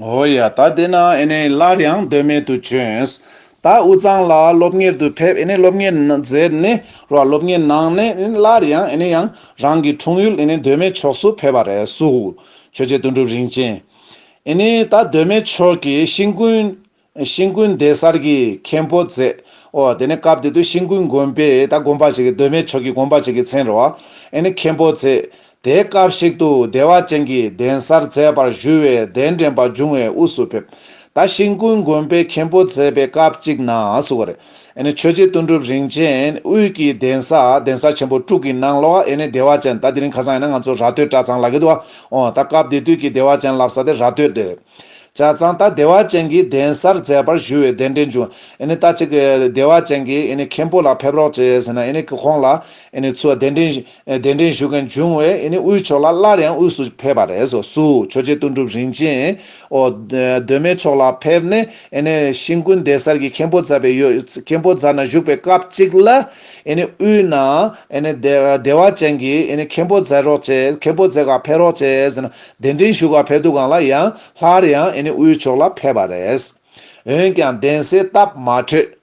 ཨོ་ཡ། ད་དེ་ན་ཨེ་ནས་སླར་ཡང་སྡོད་མལ་དུ་བྱོན། ད་དབུས་གཙང་ལ་སློབ་གཉེར་དུ་ཕེབས་ཨེ་ནས་སློབ་གཉེར་མཛད་ནས་རོ་ཨ་སློབ་གཉེར་གནང་ནས་ཨེ་ནས་སླར་ཡང་ཨེ་ནས་ཡང་རང་གི་འཁྲུངས་ཡུལ་ཨེ་ནས་སྡོད་མལ་ཕྱོགས་སུ་ཕེབས་པ་རེད་གསུག། ཆོས་རྗེ་དོན་གྲུབ་རིན་ཆེན་ཨེ་ནས་ད་སྡོད་མལ་ཕྱོགས་ཀྱི་ཤིང་ཀུན། ཤིང་ཀུན་སྡེ་གསར་གྱི་མཁན་པོ་མཛད། འོ་དེ་ནས་སྐབས་དེ་དུས་ཤིང་ཀུན་དགོན་པས་ད་དགོན་པ་ཞིག་གདོད་མའི་ཆོས་ཀྱི་དགོན་པ་ཞིག་གི་མཚན་རོ། ཨེ་ནི་མཁན་པོ་མཛད། དེའི་སྐབས་ཤིག་ཏུ་བདེ་བ་ཅན་གྱི་གདན་སར་མཛད་པར་བཞུགས་བས་གདན་འདྲེན་པ་འབྱུང་བའི་དབུས་སུ་ཕེབས། ད་ཤིང་ཀུན་དགོན་པས་མཁན་པོ་མཛད་པའི་སྐབས་གཅིག་ན་སུ་བ་རེ། ཨེ་ནི་ཆོས་རྗེ་དོན་གྲུབ་རིན་ཆེན་དབུས་ཀྱི་གདན་ས་གདན་ས་ཆེན་པོ་དྲུག་གི་ནང་ལོགས་ཨེ་ནི་བདེ་བ་ཅན་ད་དེ་རིང་ཁ་སང་ཡིན་ན་ང་ཚོ་ར་སྟོད་གྲྭ་ཚང་ལ་གི་འདུག་ཨ་འོ་ད་སྐབས་དེ་དུས་ཀྱི་བདེ་བ་ཅན་ལབ་ས་དེ་ར་སྟོད་དེ་རེད། བྱས་ཙང་ད་བདེ་བ་ཅན་གྱི་གདན་སར་མཛད་པར་ཞུ་བའི་གདན་འདྲེན་བྱུང། ད་ཅིག་བདེ་བ་ཅན་གྱི་མཁན་པོ་ལ་ཕེབས་རོགས་བྱས་ཟེར་ན་ཁོང་ལ་ཚུར་གདན་འདྲེན་ཞུ་མཁན་བྱུང་བས་དབུས་ཕྱོགས་ལ་སླར་ཡང་དབུས་སུ་ཕེབས་པ་རེད། སུ་ཆོས་རྗེ་ལྟོ་འགྲུབ་རིན་ཆེན་གདོད་མའི་ཕྱོགས་ལ་ཕེབས་ནས་ཤིང་ཀུན་གདན་སར་གྱི་མཁན་པོ་མཛད་པའི་ཡོད། མཁན་པོ་མཛད་ན་བཞུགས་པའི་སྐབས་ཅིག་ལ་དབུས་ན་བདེ་བ་ཅན་གྱི་མཁན་པོ་མཛད་རོགས་བྱས་མཁན་པོ་མཛད་ག་ཕེབས་རོགས་བྱས་ཟེར་ན་གདན་འདྲེན་ཞུ་བར་ཕེབས་འདུག་གང་ལ་ཡང་སླར་ཡང་ཨིན་དབུས་ཕྱོགས་ལ་ཕེབས་པ་རེད། འོན་ཀྱང་གདན་སའི་སྟབས་མ་འཕྲོད།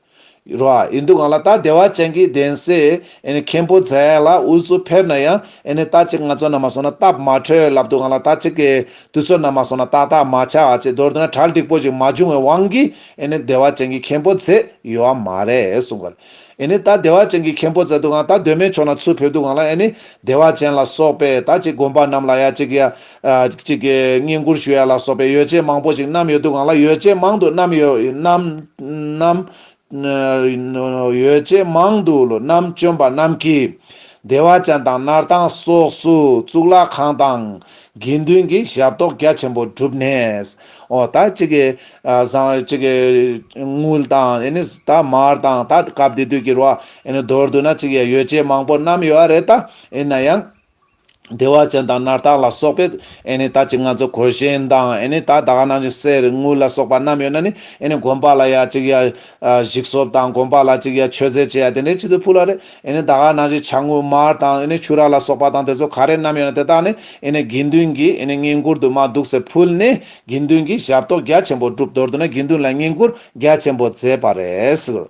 རོ་ཨ་ཨིན་འདུག་གང་ལ་ད་བདེ་བ་ཅན་གྱི་གདན་སའི་ཨིན་མཁན་པོ་མཛད་ལ་དབུས་སུ་ཕེབས་ན་ཡང་ཨིན་ནི་ད་ཅིག་ང་ཚོ་ན་མ་སོང་ན་སྟབས་མ་འཕྲོད་ལབ་འདུག་གང་ལ་ད་ཅིག་གི་དུས་ཚོད་ན་མ་སོང་ན་ཏག་ཏག་མ་ཆགས་བ་ཅིག་མདོར་བསྡུ་ན་གྲལ་འགྲིག་པོ་ཅིག་མ་བྱུང་བའི་དབང་གིས་ཨིན་ནི་བདེ་བ་ཅན་གྱི་མཁན་པོ་མཛད་ཡོད་བ་མ་རེད་གསུངས། ཨེ་ནི་ད་བདེ་བ་ཅན་གྱི་མཁན་པོ་ཛེ་དུ་གང་ད་གདོད་མའི་ཕྱོགས་ན་ཚུར་ཕེབས་དུ་གང་ལ་ཨེ་ནི་བདེ་བ་ཅན་ལ་སོགས་པས་ད་ཅིག་དགོན་པ་རྣམས་ལ་ཡ་ཅིག་གི་ཡ། ཅིག་གི་བསྙེན་བཀུར་ཞུ་ཡ་ལ་སོགས་པའི་ཡོ་བྱད་མང་པོ་ཞིག་བསྣམས་ཡོད་དུ་གང་ལ་ཡོ་བྱད་མང་དུ་བསྣམས། ཡོ་བྱད་མང་དུ་བསྣམས་བཅོམ་པ་རྣམས་ཀྱིས་བདེ་བ་ཅན་དང་སྣར་ཐང་སོགས་སུ་གཙུག་ལག་ཁང་དང། དགེ་འདུན་གྱི་ཞབས་ཏོག་རྒྱ་ཆེན་པོ་བསྒྲུབས་ནས། ཨོ་ད་ཅིག་གི་བཟང། དངུལ་དང་ཨེ་ནི་ད་མར་དང་ད་སྐབས་འདི་དུས་ཀྱི་རུ་ཨེ་ནི་མདོར་བསྡུ་ན་གཅིག་ཡ་ཡོད་ཅེས་མང་པོ་བསྣམས་ཡོད་རེད་ད་ཡིན་ན་ཡང། བདེ་བ་ཅན་དང་ནར་ཐག་ལ་སོགས་པའི་ཨེ་ནི་ད་ཅིག་ང་ཚོ་གོས་ཞེན་དང་ཨེ་ནི་ད་ད་ག་ནང་བཞིན་སེར་དངུལ་ལ་སོགས་པ་བསྣམས་ཡོད་ན་ནི་ཨེ་ནི་དགོན་པ་ལ་ཡ་གཅིག་ཡ། གཞིག་སོབ་དང་དགོན་པ་ལ་གཅིག་ཡ་མཆོད་རྫས་ཅེས་ཡ་དེ་འདྲའི་ཕྱི་དུ་ཕུལ་བ་རེད་ཨེ་ནི་ད་ག་ནང་བཞིན་བྱ་དངུལ་མར་དང་ཨེ་ནི་ཕྱུ་ར་ལ་སོགས་པ་དང་དེ་ཚོ་ག་རེ་བསྣམས་ཡོད་ན་དེ་དག་ནི་ཨེ་ནི་དགེ་འདུན་གྱིས་ཨེ་ནི་བསྙེན་བཀུར་དུ་མ་འདུག་ཟེར་ཕུལ་ནས་དགེ་འདུན་གྱིས་ཞབས་ཏོག་རྒྱ་ཆེན་པོ་བསྒྲུབས་མདོར་བསྡུ་ན་དགེ་འདུན་ལ་བསྙེན་བཀུར་རྒྱ་ཆེན་པོ་མཛད་པ་རེད།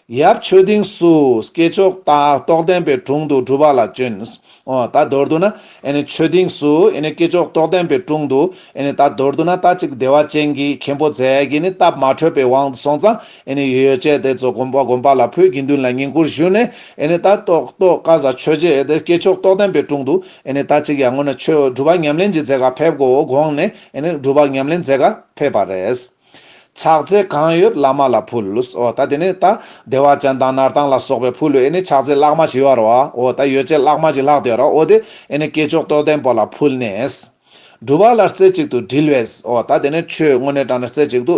ཡབ་ཆོས་སྡིངས་སུ་སྐྱེས་མཆོག་རྟ་ཏོག་བསྟན་པའི་དྲུང་དུ་སྒྲུབ་པ་ལ་སྤྱོན། ད་མདོར་བསྡུ་ན་ཆོས་སྡིངས་སུ་སྐྱེས་མཆོག་ཏོག་བསྟན་པའི་དྲུང་དུ། ད་མདོར་བསྡུ་ན་རྟ་གཅིག་བདེ་བ་ཅན་གྱི་མཁན་པོ་མཛད་ཀྱི་ནི་སྟབས་མ་འཕྲོད་པའི་དབང་དུ་སོང་ཙང་ཡོ་བྱད་དེ་ཚོ་བསྒོམ་པ་ལ་ཕུལ་དགེ་འདུན་ལ་བསྙེན་བཀུར་ཞུས་ནས། ད་ཏོག་ཀ་བཟའ་ཆོས་རྗེ་སྐྱེས་མཆོག་ཏོག་བསྟན་པའི་དྲུང་དུ། ད་གཅིག་ཡར་ངོ་ནས་ཁྱོད་སྒྲུབ་པ་ཉམས་ལེན་གྱི་རྫས་ག་ཕེབས་གོ་དགོངས་ནས་སྒྲུབ་པ་ཉམས་ལེན་རྫས་ག་ཕེབས་པ་རེད། ཕྱག་རྫས་གང་ཡོད་བླ་མ་ལ་ཕུལ། ད་དེ་ནས་ད་བདེ་བ་ཅན་དང་ནར་ལྡང་ལ་སོགས་པའི་ཕུལ། ཕྱག་རྫས་བཀླག་མ་བྱེད་ཡོད་རོ། ད་ཡོ་བྱད་བཀླག་མ་ཞིག་ལྷག་དེ་རོ། དེ་ནས་བསྐྱེད་ཆོག་རྟོགས་ལྡན་པོ་ལ་ཕུལ་ནས། སྒྲུབ་པ་ལ་རྩེ་གཅིག་ཏུ་དྲིལ་བས། ད་དེ་ནས་ཁྱོད་སྔོན་གནས་དྲངས་ནས་རྩེ་གཅིག་ཏུ།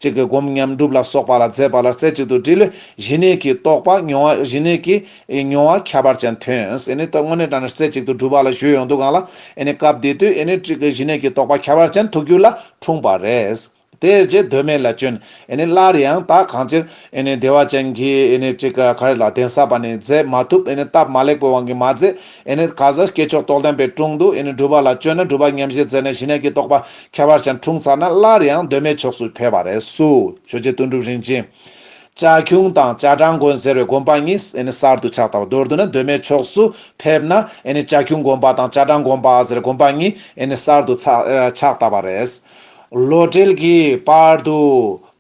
གཅིག་གིས་བསྒོམ་ཉམས་སྒྲུབ་ལ་སོགས་པ་ལ་མཛད་པ་ལ་རྩེ་གཅིག་ཏུ་དྲིལ་བས་གཞི་གནས་ཀྱི་རྟོགས་པ་མྱོང་བ་གཞི་གནས་ཀྱི། ཨེ་མྱོང་བ་ཁྱད་པར་ཅན་ཐོན། ཨེ་ནི་སྟོད་སྔོན་ནས་དྲངས་ནས་རྩེ་གཅིག་ཏུ་སྒྲུབ་པ་ལ་གཞོལ་ཡོང་དུས་གང་ལ་ཨེ་ནི་སྐབས་དེ་དུས་ཨེ་ནི་ཏྲི་ཀི་བཞི་གནས་ཀྱི་དོགས་པ་ཁྱད་པར་ཅན་ཐུགས་རྒྱུད་ལ་འཁྲུངས་པ་རེད། དེ་རྗེས་གདོད་མའི་ལ་བཅོན་ཨེ་ནི་སླར་ཡང་དག་གང་ཅིར་ཨེ་ནི་བདེ་བ་ཅན་གྱི་ཨེ་ནི་ཏྲི་ཀི་གར་ལ་གདན་ས་པ་ནས་མཛད་མ་ཐུབ་ཨེ་ནི་སྟབས་མ་ལེགས་པའི་དབང་གིས་མ་མཛད་ཨེ་ནི་ག་ཟ་སྐྱེས་མཆོག་རྟོགས་ལྡན་པའི་དྲུང་དུ་ཨེ་ནི་སྒྲུབ་པ་ལ་བཅོལ་ན་སྒྲུབ་པ་ཉམས་བཞེས་མཛད་ནས་བཞི་གནས་ཀྱི་དོགས་པ་ཁྱད་པར་ཅན་འཁྲུངས་ཚར་ན་སླར་ཡང་གདོད་མའི་ཕྱོགས་སུ་ཕེབས་པ་རེད། སུ་ཆོས་རྗེ་དོན་གྲུབ་རིན་ཆེན། བྱ་ཁྱུང་དང་བྱ་བྲང་དགོན་ཟེར་བའི་དགོན་པ་གཉིས་གསར་དུ་ཆགས་དང་བ་དོར་དུ་ན་གདོད་མའི་ཕྱོགས་སུ་ཕེབས་ན་བྱ་ཁྱུང་དགོན་པ་དང་བྱ་བྲང་དགོན་པ་ཟེར་དགོན་པ་གཉིས་གསར་དུ་ཆགས་དང་བ་རེད། ལོ་སྤྲེལ་གྱི་བར་དུ་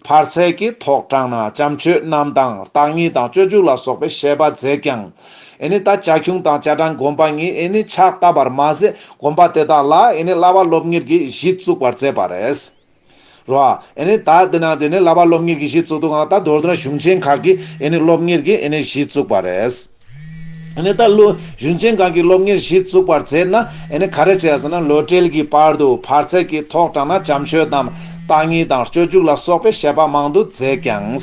བར་ཚད་ཀྱི་ཐོག་དྲངས་ན་བྱམས་ཆོས་རྣམས་དང་བརྟག་གཉིས་དང་སྤྱོད་འཇུག་ལ་སོགས་པའི་བཤད་པ་མཛད་ཀྱང། ད་བྱ་ཁྱུང་དང་བྱ་བྲང་དགོན་པ་གཉིས་ཆགས་དང་བར་མ་ཟད་དགོན་པ་དེ་དག་ལ་གླ་བ་སློབ་གཉེར་གྱི་གཞི་བཙུགས་པར་མཛད་པ་རེད། རོ། ཨེ་ནི་ད་དེ་ན་དེ་ནས་བསླབ་པ་སློབ་གཉེར་གྱི་གཞི་བཙུགས་འདུག་ང་ད་མདོར་བསྡུ་ན་གཞུང་ཆེན་ཁག་གི་ཨེ་ནི་སློབ་གཉེར་གྱི་ཨེ་ནི་གཞི་བཙུགས་པ་རེད། ཨེ་ནི་ད་ལོ་གཞུང་ཆེན་ཁག་གི་སློབ་གཉེར་གཞི་བཙུགས་པར་ཟེར་ན་ཨེ་ནི་ག་རེ་བྱས་ཟེར་ན་ལོ་གྲལ་གྱི་བར་དུ་བར་ཚད་ཀྱི་ཐོག་དྲངས་ན་བྱམས་ཆོས་དང་བརྟག་གཉིས་དང་སྤྱོད་འཇུག་ལ་སོགས་པའི་བཤད་པ་མང་དུ་མཛད་ཀྱང།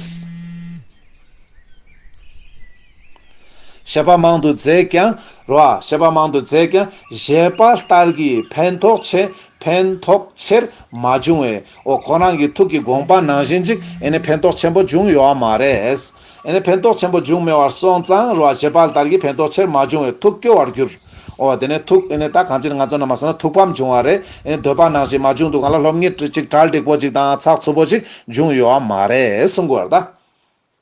ཞེས་པ་མང་དུ་མཛད་ཀྱང་རོ། ཞེས་པ་མང་དུ་མཛད་ཀྱང་བཞེད་པ་ལྟར་གྱི་ཕན་ཐོགས་ཆེ་ཕན་ཐོགས་ཆེར་མ་བྱུང་བས་འོ་ཁོང་རང་གི་ཐུགས་ཀྱི་དགོངས་པ་ནང་བཞིན་ཅིག་ཨེ་ནས་ཕན་ཐོགས་ཆེན་པོ་བྱུང་ཡོད་བ་མ་རེད། ཨེ་ནས་ཕན་ཐོགས་ཆེན་པོ་འབྱུང་མེད་བར་སོང་ཙང་རོ་བཞེད་པ་ལྟར་གྱི་ཕན་ཐོགས་ཆེར་མ་བྱུང་བས་ཐུགས་སྐྱོ་བར་གྱུར། འོ་དེ་ནས་ཐུགས་ཨེ་ནས་ད་གང་ཅིར་ང་ཚོ་རྣམས་མ་སོང་ན་ཐུགས་ཕམ་བྱུང་བ་རེད་ཨེ་ནས་འདོད་པ་ནང་བཞིན་མ་བྱུང་འདུག་གང་ལ་སློབ་གཉེར་ཅིག་གྲལ་འགྲིག་པོ་ཅིག་དང་ཚགས་ཚུད་པོ་ཅིག་འབྱུང་ཡོད་བ་མ་རེད་གསུང་དགོས་བར་གདའ།